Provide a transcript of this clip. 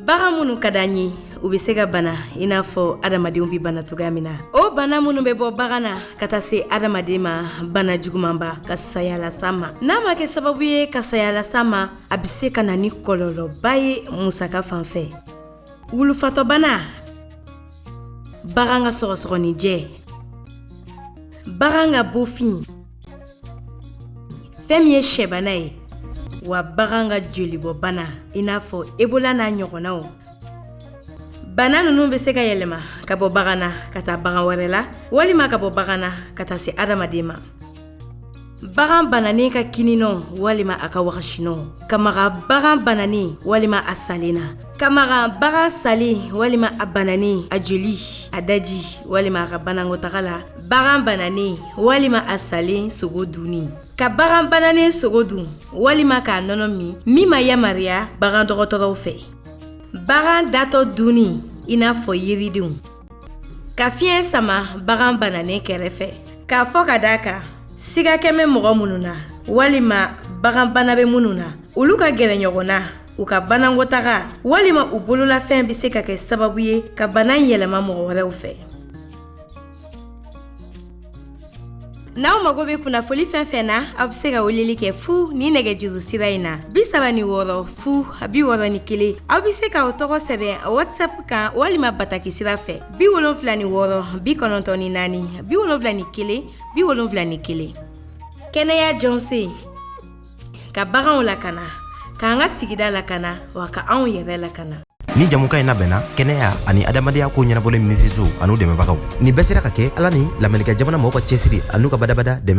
bagan minnu ka d'an ye u bɛ se ka bana i n'a fɔ adamadenw bɛ bana cogoya min na o bana minnu bɛ bɔ bagan na ka taa se adamaden ma bana jugumanba ka saya las'a ma n'a ma kɛ sababu ye ka saya las'a ma a bɛ se ka na ni kɔlɔlɔba ye musaka fan fɛ wulufatɔbana bagan ka sɔgɔsɔgɔninjɛ bagan ka bofin fɛn min ye sɛbana ye wa bagan ka jolibɔbana i n'a fɔ ebola n'a ɲɔgɔnnaw bana ninnu bɛ se ka yɛlɛma ka bɔ bagan na ka taa bagan wɛrɛ la walima ka bɔ bagan na ka taa se adamaden ma bagan bananen ka kinninɔ walima a ka wagasinɔ ka maga bagan bananen walima a salen na ka maga bagan salen walima a bananen a joli a daji walima a ka banakɔtaga la bagan bananen walima a salen sogo dunni ka bagan bananen sogo dun walima k'a nɔnɔ min min ma yamariya bagan dɔgɔtɔrɔw fɛ bagan datɔ dunni i n'a fɔ yiridenw ka fiɲɛ sama bagan bananen kɛrɛfɛ k'a fɔ ka d'a kan siga kɛmɛ mɔgɔ minnu na walima bagan bana bɛ minnu na olu ka gɛrɛ ɲɔgɔn na u ka banakɔtaga walima u bololafɛn bɛ se ka kɛ sababu ye ka bana yɛlɛma mɔgɔ wɛrɛw fɛ N'aw mago bɛ kunnafoni fɛn fɛn na aw bɛ se ka weleli kɛ fu ni nɛgɛjuru sira in na bi saba ni wɔɔrɔ fu bi wɔɔrɔ ni kelen aw bɛ se k'aw tɔgɔ sɛbɛn WhatsApp kan walima bataki sira fɛ bi wolonwula ni wɔɔrɔ bi kɔnɔntɔn ni naani bi wolonwula ni kelen bi wolonwula ni kelen kɛnɛya jɔsen ka baganw lakana k'an ka sigida lakana wa ka anw yɛrɛ lakana nin jamukan in labɛnna kɛnɛya ani adamadenya ko ɲɛnabɔli minisiriso an'u dɛmɛbagaw nin bɛɛ sera ka kɛ ala ni lamerikɛn jamana mɔgɔw ka cɛsiri an'u ka badabada dɛmɛ